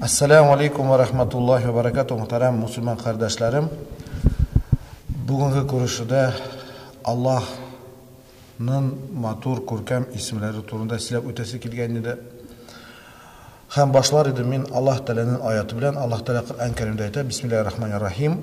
Ассаламу алейкум ва рахматуллахи ва баракату, мөхтәрәм мусульман кардәшләрем. Бүгенге күрешүдә Аллаһның матур күркәм исемләре турында сөйләп үтәсе килгән иде. Хәм башлар иде мин Аллаһ Тәгаләнең аяты белән. Аллаһ Тәгалә Коръән Кәримдә әйтә: "Бисмиллаһир рахманир рахим".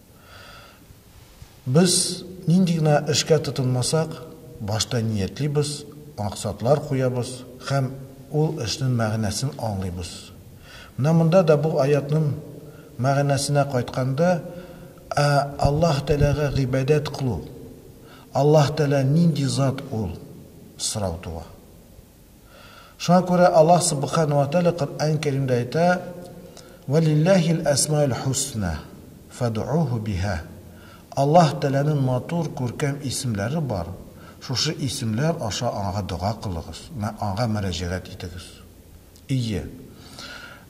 Без нинди генә эшкә тотынмасак, башта ниятлибез, максатлар куябыз һәм ул эшнен мәгънәсен аңлыйбыз. Менә монда да бу аятнын мәгънәсенә кайтканда, ә Аллаһ Тәгаләгә гыйбадәт кылу, Аллаһ Тәгалә нинди зат ул? сорау туа. Шуңа күрә Аллаһ Субхана уә Тәгалә Коръән Кәримдә әйтә, Вә лилләһил әсмаул хусна, фәдгуһу биһа. Аллаһ Тәгаләнең матур, күркәм исемләре бар, шушы исемләр аша Аңа дога кылыгыз, Аңа мөрәҗәгать итегез. Ие,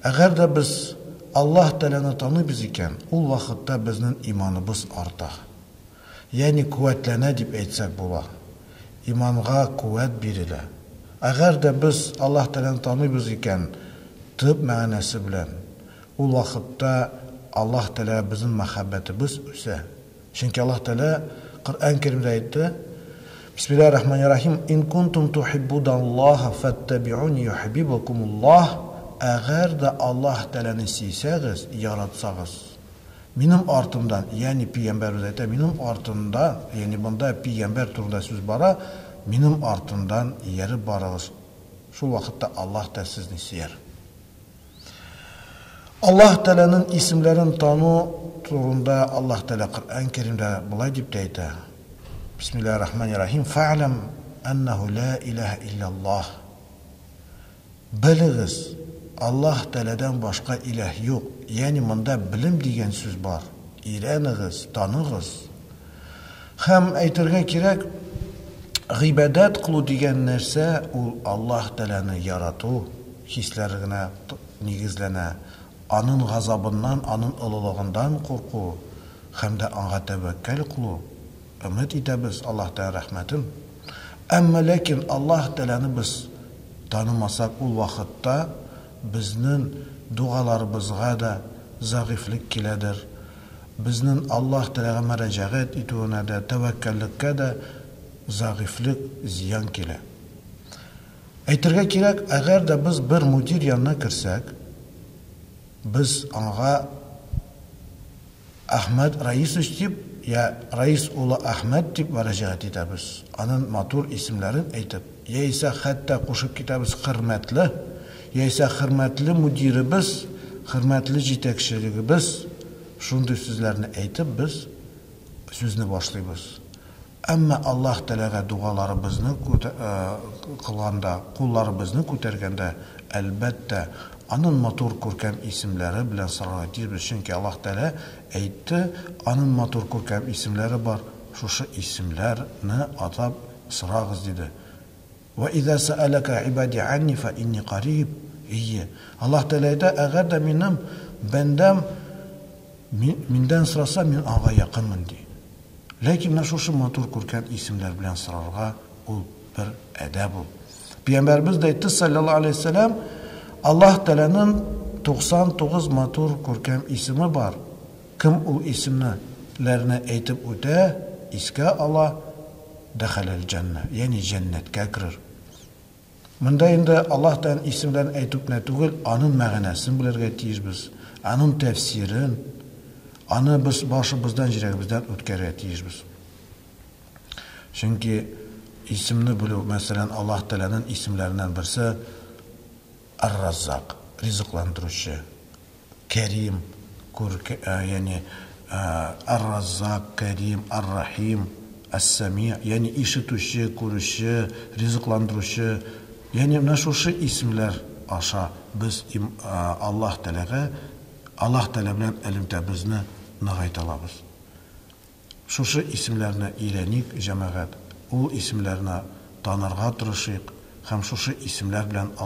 әгәр дә без Аллаһ Тәгаләне таныйбыз икән, ул вакытта безнең иманыбыз арта. Ягъни куәтләнә дип әйтсәк була. Иманга куәт бирелә. Әгәр дә без Аллаһ Тәгаләне таныйбыз икән, төп мәгънәсе белән, ул вакытта Аллаһ Тәгаләгә безнең мәхәббәтебез үсә. Чөнки Аллаһ Тәгалә Коръән Кәримдә әйтте, Бисмиллаһи рахмани рахим, Ин кунтум тухиббудаллаһа фәттәбиуни йохибибукумуллаһ, Әгәр дә Аллаһ Тәгаләне сөйсәгез, яратсагыз, Минем артымда, ягъни пигамбәр үзе әйтә, минем артымда, ягъни монда пигамбәр турында сүз бара, минем артымдан ияреп барыгыз, шул вакытта Аллаһ та сезне сөяр. Аллаһ Тәгаләнең исемләрен тану турында Аллаһ Тәгалә Коръән Кәримдә болай дип тә әйтә, Бисмиллаһир-рахманир-рахим, Фә'ләм әннәһү лә иләһә илля Аллаһ. Белегез, Аллаһ Тәаләдән башка иләһ юк, ягъни монда белем дигән сүз бар, өйрәнегез, таныгыз. Һәм, әйтергә кирәк, гыйбадәт кылу дигән нәрсә ул Аллаһ Тәаләне ярату хисләрегенә нигезләнә, Анын газабыннан, Анын олылыгындан курку һәм дә Аңа тәвәккәл кылу. өмет итәбез Аллаһтан рәхмәтен, әмма ләкин Аллаһ Тәгаләне без танымасак ул вакытта безнен дугаларыбызга да зәгыйфьлек киләдер, безнен Аллаһ Тәгаләгә мәрәҗәгать итүенә дә, тәвәккәллеккә дә зәгыйфьлек, зыян килә. Әйтергә кирәк, әгәр дә без бер мөдир янына керсәк, без аңа Әхмәт Раисович дип йә Раис улы Әхмәт дип мөрәҗәгать итәбез, анын матур исемләрен әйтеп, яисә хәтта кушып китәбез Хөрмәтле, яисә Хөрмәтле мөдиребез, Хөрмәтле җитәкчелегебез, шундый сүзләрне әйтеп без сүзне башлыйбыз. Әмма Аллаһ Тәгаләгә дугаларыбызны кылганда, кулларыбызны күтәргәндә, әлбәттә, Анын матур, күркәм исемләре белән сорарга тиешбез, чөнки Аллаһ Тәгалә әйтте, Анын матур, күркәм исемләре бар, шушы исемләр не атап сорагыз, диде. Вә иза сәәләкә ибади анни фә инни кариб, Әйе, Аллаһ Тәгалә әйтә, әгәр дә минем бәндәм Миндән сораса, мин аңа якынмын, ди. Ләкин менә шушы матур күркәм исемнәр белән сорарга ул бер әдәп ул. Пиямбәребез дә әйтте, салләллаһу галәйһи вә сәлләм, Аллаһ Тәгаләнең 99 матур күркәм исеме бар, кем ул исемне ләрне әйтеп үтә, искә ала, Дәхәлә әл-җәннә, ягъни җәннәткә керер. Монда инде Аллаһ Тәгаләнең исемләрен әйтү кенә түгел, аның мәгънәсен белергә тиешбез, аның тәфсирен, аны без башыбыздан, җирәгебездән үткәрергә тиешбез. Чөнки исемне белү, мәсәлән, Аллаһ Тәгаләнең исемләреннән берсе, Ар-Раззак, ризыкландыручы, Кәрим, күрк, ягъни Ар-Раззак, Кәрим, Ар-Рахим, Ас-Сами, ягъни ишетүче, күрүче, ризыкландыручы, ягъни менә шушы исемләр аша без им Аллаһ Тәгаләгә, Аллаһ Тәгалә белән элемтәбезне ныгайта алабыз. Шушы исемләрне өйрәник, җәмәгать, ул исемләрне танырга тырышыйк һәм шушы исемләр белән Аллаһ.